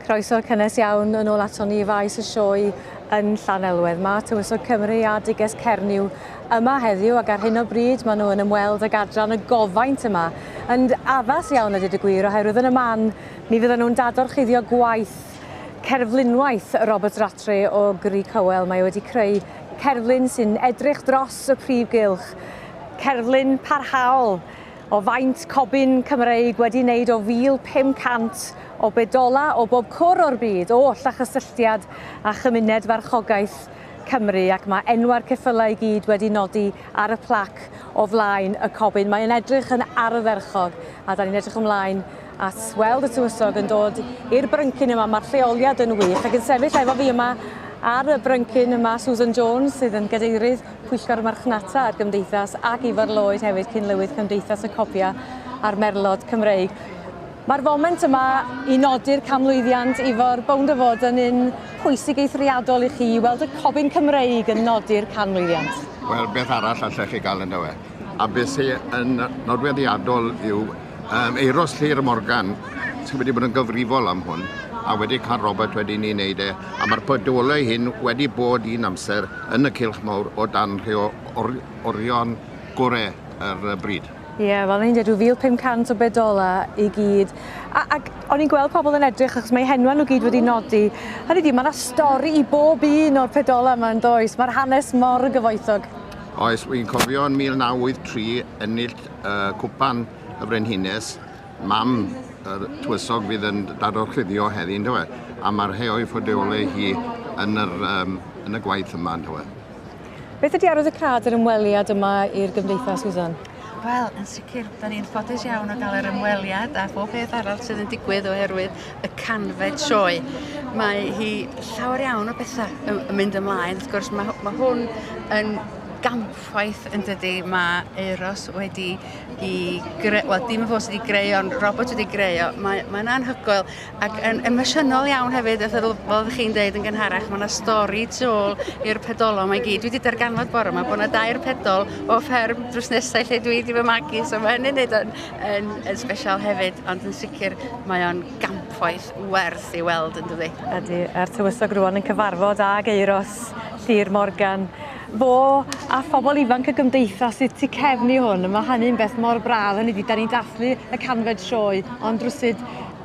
Croeso cynnes iawn yn ôl ato ni faes y sioe yn Llanelwedd. Mae Tywysog Cymru a Diges Cernyw yma heddiw ac ar hyn o bryd maen nhw yn ymweld ag adran y gofaint yma. Yn addas iawn ydy dy gwir oherwydd yn y man mi fydden nhw'n dadorchuddio gwaith Cerflunwaith Robert Rattray o Grug Cowell. Mae wedi creu cerflun sy'n edrych dros y prif gylch. Cerflun parhaol o faint cobyn Cymreig wedi wneud o 1,500 o bedola o bob cwr o'r byd oll a chysylltiad â chymuned farchogaeth Cymru ac mae enwau'r ceffylau i gyd wedi nodi ar y plac o flaen y cobyn. Mae'n edrych yn ardderchog a da ni'n edrych ymlaen at weld y tywysog yn dod i'r bryncyn yma. Mae'r lleoliad yn wych ac yn sefyll efo fi yma ar y bryncyn yma Susan Jones sydd yn gadeirydd Pwyllgor Marchnata a'r Gymdeithas ac Ifor Lloyd hefyd cyn-lywydd Cymdeithas y Copia a'r Merlod Cymreig. Mae'r foment yma i nodi'r canmlwyddiant Ifor bownd o fod yn un pwysig eithriadol i chi i weld y cofyn Cymreig yn nodi'r canmlwyddiant. Wel, beth arall allech chi gael ynddo fe? A beth sy'n nodweddiadol yw Um, Euros Llyr Morgan sydd wedi bod yn gyfrifol am hwn a wedi cael Robert wedi ni wneud e a mae'r podolau hyn wedi bod un amser yn y cilch mawr o dan rhai o or orion gorau yr er bryd. Ie, yeah, fel ni'n dweud, 1500 o bedola i gyd. A, ac o'n i'n gweld pobl yn edrych, achos mae henwa nhw gyd wedi nodi. Hynny di, mae yna stori i bob un o'r pedola yma yn does. Mae'r hanes mor gyfoethog. Oes, wy'n cofio yn 1983 ennill uh, cwpan y Frenhines, mam yr tywysog fydd yn dador chuddio heddi, ynddo fe? A mae'r rhai o'i ffodeolau hi yn, yr, um, yn y gwaith yma, ynddo fe? Beth ydy arwydd y cad yr ymweliad yma i'r gymdeithas, Susan? Wel, yn sicr, da ni'n ffodus iawn o gael yr ymweliad a bob beth arall sydd yn digwydd oherwydd y canfed sioe. Mae hi llawer iawn o bethau yn mynd ymlaen. Wrth gwrs, mae, mae hwn yn gamp chwaith yn dydy, mae Euros wedi i greu, wel dim y fos wedi greu ond robot wedi greu o, mae'n mae anhygoel ac yn emosiynol iawn hefyd, fel oeddech chi'n dweud yn gynharach, mae yna stori tu ôl i'r pedolon mae gyd. Dwi wedi darganfod bore yma bod yna dair pedol o fferm drws nesau lle dwi wedi fy magu, so mae hynny'n neud yn, yn, yn special hefyd, ond yn sicr mae o'n gampwaith werth i weld yn dydi. Ydy, a'r tywysog rwan yn cyfarfod ag Euros Llyr Morgan Fo a phobl ifanc y gymdeithas sydd tu cefn i hwn, mae hynny'n beth mor braf, hynny ydi, da ni'n dathlu y canfed sioe, ond rwsud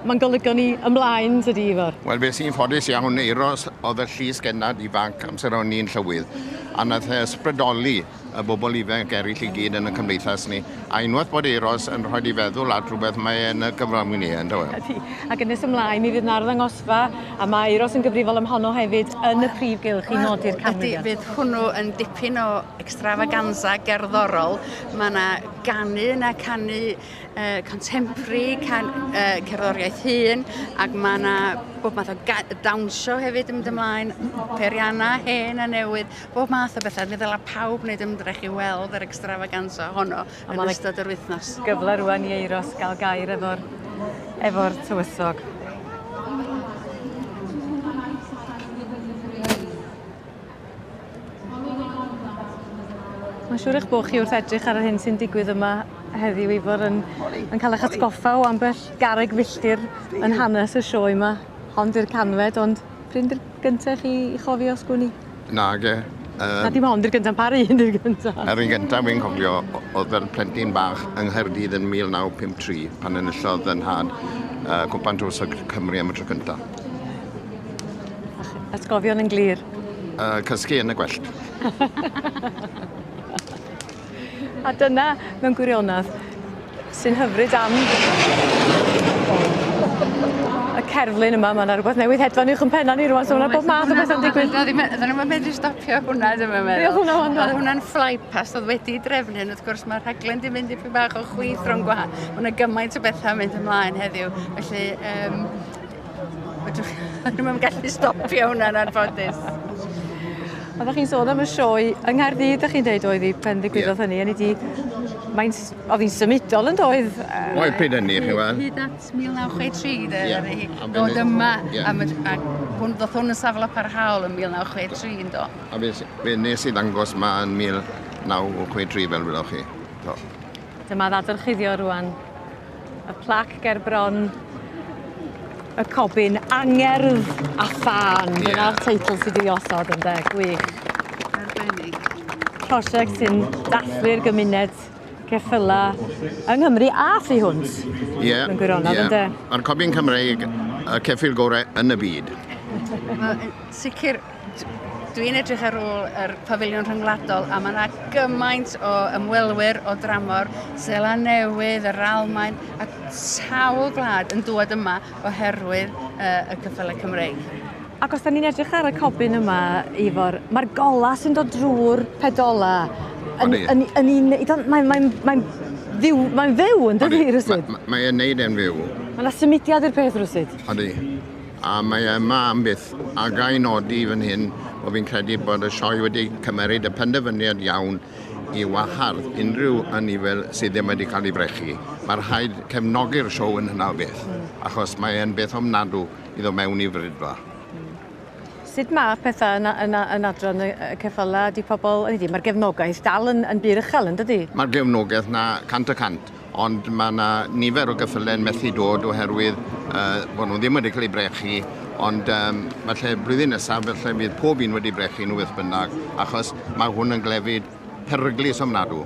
mae'n golygo ni ymlaen, tydi Ifor? Wel, fues i'n ffodus iawn, Euros oedd y llys gennad ifanc amser o'n i'n llywydd, a wnaeth e ysbrydoli y bobl ifanc eraill i gyd yn y cymdeithas ni. A unwaith bod Euros yn rhoi di feddwl at rhywbeth, mae e yn y gyfrol mwyn e, ynddo e? Ydy, ac yn nes ymlaen mi fydd 'na arddangosfa a mae Euros yn gyfrifol am honno hefyd yn y prif gylch i nodi'r canmlwyddiant. Ydy, fydd hwnnw yn dipyn o extravaganza gerddorol. Mae yna ganu yna, canu uh, contemporary, can, uh, cerddoriaeth hun, ac mae yna bob math o dawnsio hefyd yn mynd ymlaen, periana hen a newydd, Bob math o bethau. Fe ddylai pawb wneud ymdrech i weld yr extravaganza honno yn ystod yr wythnos. Gyfle rwan i Eiros gael gair efo'r efo tywysog. Mae'n siŵr eich bod chi wrth edrych ar yr hyn sy'n digwydd yma heddiw Ifor yn, yn cael eich atgoffa o ambell garreg filltir yn hanes y sioe yma. Hon di'r canfed, ond Pryn dy'r gyntaf chi i chofio sgwni? Nage. Um, Na dim ond i'r gyntaf, pa un i'r gyntaf? Yr un gyntaf fi'n cofio oedd fel plentyn bach yng Nghaerdydd yn 1953 pan enillodd yn nhad uh, Cwpan Tros Cymru am y tro cyntaf. Atgofion yn glir. Uh, cysgu yn y gwellt. A dyna, mewn gwirionedd, sy'n hyfryd am y cerflun yma. Mae yna rhywbeth newydd hedfan uwch yn penna ni rwan, so mae yna bob math o bethau'n digwydd. Oedden nhw'n yn medru stopio hwnna, ddim yn meddwl. Oedd hwnna ond. Oedd hwnna'n flypast, oedd wedi drefnu, wrth gwrs mae rhaglen di mynd i fi bach o chwith rhwng gwahanol. Mae yna gymaint o bethau mynd ymlaen heddiw, felly um, Fedrwch ddim yn gallu stopio hwnna yn anffodus. Oeddech chi'n sôn am y sioe yng Nghaerdydd, da chi'n deud oedd hi pen ddigwyddodd hynny, a ni di... Mae'n... Oedd hi'n symudol yn doedd? Oedd pryd hynny, chi'n gweld? Hyd at 1963, de, yeah. oedd hi. Dod yma, yeah. am, a hwn, ddoth hwn yn safle parhaol yn 1963, yn do. A fe, fe nes i ddangos ma yn 1963, fel wylwch chi. Do. Dyma ddadorchuddio rwan. Y plac ger bron y cobyn, angerdd a thân. Ie. Dyna'r teitl sy' 'di osod ynde, gwych. Arbennig. Prosiect sy'n dathlu'r gymuned geffyla yng Nghymru a thu hwnt. Ie. Mewn gwirionedd ie. ynde? Ma'r cobyn Cymreig y ceffyl gore yn y byd. Wel yn sicir Dwi'n edrych ar ôl yr Pafiliwn Rhyngwladol a mae yna gymaint o ymwelwyr o dramor, Seland Newydd, yr Almaen a sawl gwlad yn dŵad yma oherwydd yy y cyffyle Cymreig. Ac os 'da ni'n edrych ar y cobyn yma, Ifor, mae'r golau sy'n dod drwy'r pedola yn yn yn un i don't mae'n mae'n mae'n fyw mae'n fyw yndydi rywsut? Mae e'n neud e'n fyw. Mae 'na symudiad i'r peth rywsut. Odi. A mae e yma am byth, a ga i nodi fan hyn bod fi'n credu bod y Sioe wedi cymeryd y penderfyniad iawn i wahardd unrhyw anifail sydd ddim wedi cael ei frechu. Mae rhaid cefnogi'r Sioe yn hynna o beth, achos mae e'n beth ofnadw i ddod mewn i frydfa. Sut mae pethau yn, yn, yn adran y, y ceffylau? Ydy pobl... Ydy, mae'r gefnogaeth dal yn, yn bur uchel, yn dydy? Mae'r gefnogaeth 'na cant y cant. Ond mae yna nifer o geffylau yn methu dod oherwydd uh, bod nhw ddim wedi cael eu brechu, ond um, falle blwyddyn nesaf felly bydd pob un wedi brechu nhw beth bynnag, achos mae hwn yn glefyd peryglus ofnadw.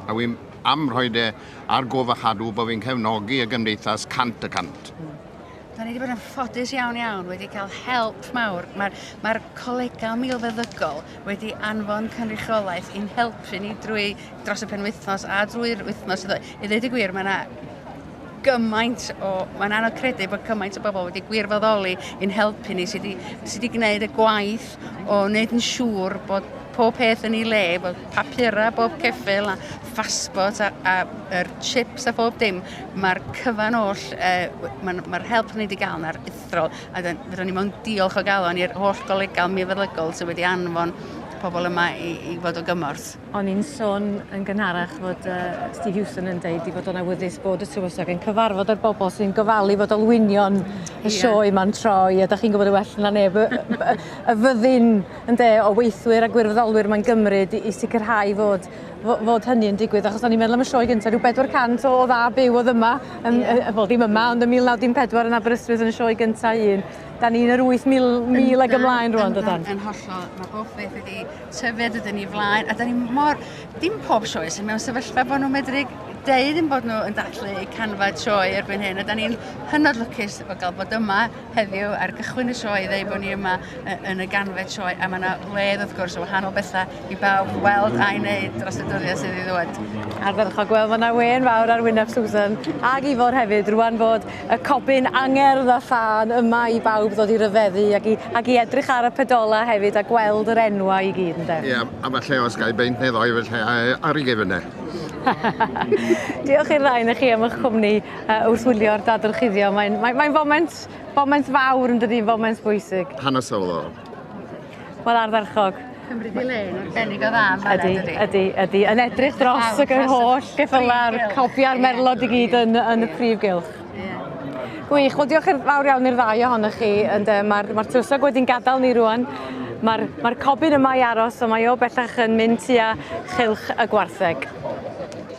A wy'n am rhoi de ar gof a chadw bod fi'n cefnogi y gymdeithas cant y cant. Da ni wedi bod yn ffodus iawn iawn, wedi cael help mawr. Mae'r mae colegau milfeddygol wedi anfon cynrychiolaeth i'n helpu ni drwy dros y penwythnos a drwy'r wythnos. I ddweud y gwir, mae yna gymaint o... Mae'n anodd credu bod cymaint o bobl wedi gwirfoddoli i'n helpu ni sydd wedi, sy wedi gwneud y gwaith o wneud yn siŵr bod pob peth yn ei le, bod papurau, bob ceffil, a phasbort, a, a er chips a phob dim, mae'r cyfan oll, e, mae'r ma help ni wedi gael yna'r uthrol, a fydden ni mewn diolch o galon i'r holl golegau mifeddygol sydd wedi anfon pobl yma i, i fod o gymorth. O'n i'n sôn yn gynharach fod uh, Steve Hewson yn deud i fod o'n awyddus bod y tywysog yn cyfarfod â'r bobl sy'n gofalu fod olwynion y sioe ma'n troi, a da chi'n gwybod y well na neb, y, y, y fyddin ynde, o weithwyr a gwirfoddolwyr mae'n gymryd i, i sicrhau fod, fod hynny yn digwydd, achos o'n i'n meddwl am y sioe gyntaf, rhyw 400 o, o dda byw oedd yma, yn, yeah. uh, wel ddim yma, ond yn 1914 yn Aberystwyth yn y sioe gyntaf un. Da ni'n yr 8,000 ag ymlaen rwan, dydan? Yn hollol, mae bob beth wedi tyfu dydyn ni flaen, a da ni mor, dim pob sioe sy'n mewn sefyllfa bod nhw'n medru deud yn bod nhw yn dathlu canfa sioe erbyn hyn, a da ni'n hynod lwcus o gael bod yma, heddiw ar gychwyn y sioe i ddweud bod ni yma yn y ganfed sioe a mae yna wledd wrth gwrs o wahanol bethau i bawb weld a'i wneud dros y dyddiau sydd i ddod. Ar fel chi'n gweld mae yna wen fawr ar wyneb Susan ac Ifor hefyd rwan bod y cobyn angerdd a thân yma i bawb ddod i ryfeddu ac i, ac i edrych ar y pedolau hefyd a gweld yr enwau i gyd ynde? Ie, a falle os gael beint neu ddoi falle ar ei gefn e. Diolch i'r ddau na chi am eich cwmni Uh, wrth wylio'r dadorchuddio, mae'n mae, mae foment, foment fawr yn dydy, foment bwysig. Hanesyddol. Wel, ardderchog. Cymru di le yn arbennig o dda. Ydy, ydy, ydy. Yn edrych dros y holl geffyla'r cofia'r merlod i gyd yn, yn y prif gylch. Gwych, wel diolch i'r fawr iawn i'r ddau ohonoch chi. Mae'r ma, ma tywysog wedi'n gadael ni rwan. Mae'r ma cobyn yma i aros, ond mae o bellach yn mynd tua chylch y gwartheg.